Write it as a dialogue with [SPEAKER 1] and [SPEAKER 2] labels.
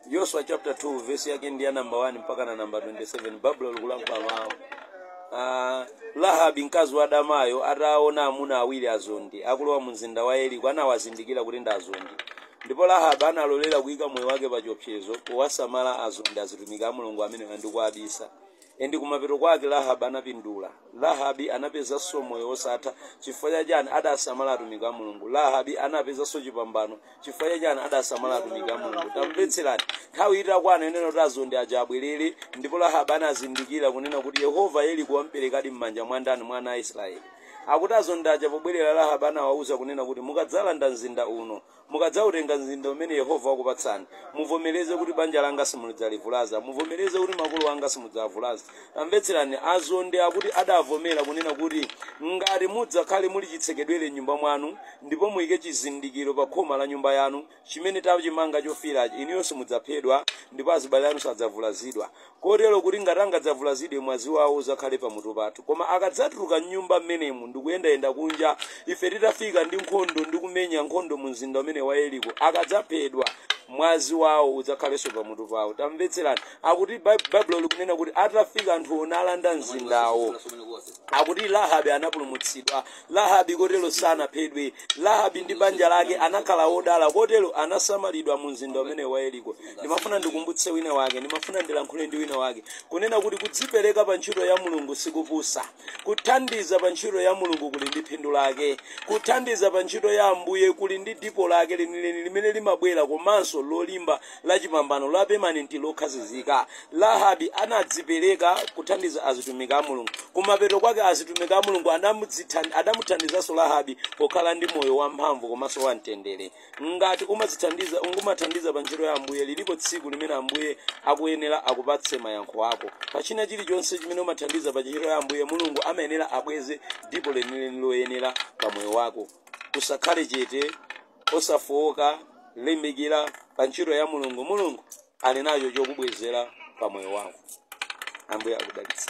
[SPEAKER 1] Yoswa chapter 2 vesi yake ndi ya namba 1 mpakana namba 27 Baibulo likulankhula mawu Ah, Rahabi mkazi wadamayo ataona amuna awiri azondi akulowa mu mzinda wa Yeriko anawazindikira kuti ndi azondi ndipo Rahabi analolera kuyika moyo wake pa chiopsezo powasamala azondi azitumiki a Mulungu amenewa ndi kuwabisa Endi kumapeto kwake Rahabi anapindula. Rahabi anapezanso moyo wosatha. Chifukwa cha chani? Adasamala atumiki a Mulungu. Rahabi anapezanso chipambano. Chifukwa cha chani? Adasamala atumiki a Mulungu. Tamvetserani. Nthawi itakwana yonena kuti azondi aja abwerere, ndipo Rahabi anazindikira kunena kuti Yehova Yeriko wamperekadi m'manja mwa ndani? Mwa ana a Israeli. Akuti azondi aja pobwerera Rahabi anawauza kunena kuti mukadzalanda mzinda uno, Mukadzautenga mzinda umene Yehova wakupatsani, muvomereze kuti, Banja langa simudzalivulaza. Muvomereze kuti, Makolo anga simudzawavulaza. Tamvetserani, azondi akuti adavomera kunena kuti, Ngati mudzakhale muli chitsekedwere m'nyumba mwanu, ndipo muike chizindikiro pa khoma la nyumba yanu, chimene tachimanga chofiirachi, inuyo simudzaphedwa, ndipo azibale anu sadzavulazidwa. kotero kuti ngati angadzavulazidwe, mwazi wawo udzakhale pamutu pathu. Koma akadzatuluka mnyumba mmenemo ndi kuyendayenda kunja, ife titafika ndi nkhondo ndi kumenya nkhondo mu mzinda umene wa Yeriko, akadzaphedwa, mwazi wawo udzakhalenso pamutu pawo. Tamvetserani. Akuti Baibulo likunena kuti atafika anthu olanda mzindawo, akuti Rahabi anapulumutsidwa Rahabi kotero sanaphedwe. Rahabi ndi banja lake anakhala odala kotero anasamalidwa mu mzinda umene wa Yeriko. Ndimafuna ndikumbutse wina wake, ndimafuna ndilankhule ndi wina wake kunena kuti kudzipereka pa ntchito ya Mulungu sikupusa. Kuthandiza pa ntchito ya Mulungu kuli ndi phindu lake. Kuthandiza pa ntchito ya Ambuye kuli ndi dipo lake lenileni limene limabwera komanso lolimba la chipambano la pemanenti lokhazizika. Rahabi anadzipereka kuthandiza azitumiki a Mulungu. Kumapeto kwake azitumiki a Mulungu adamuthandizanso Rahabi pokhala ndi moyo wamphamvu komanso wamtendere. Ngati umadzithandiza n'kumathandiza pa ntchito ya Ambuye lilipo tsiku limene Ambuye akuyenera akupatse mayankho ako. Pa china chilichonse chimene umathandiza pa ntchito ya Ambuye Mulungu amayenera abweze dipo lenileni loyenera pa moyo wako. Usakhale chete osafowoka limbikira pa ntchito ya Mulungu Mulungu ali nacho chokubwezera pa moyo wako Ambuye akudalitse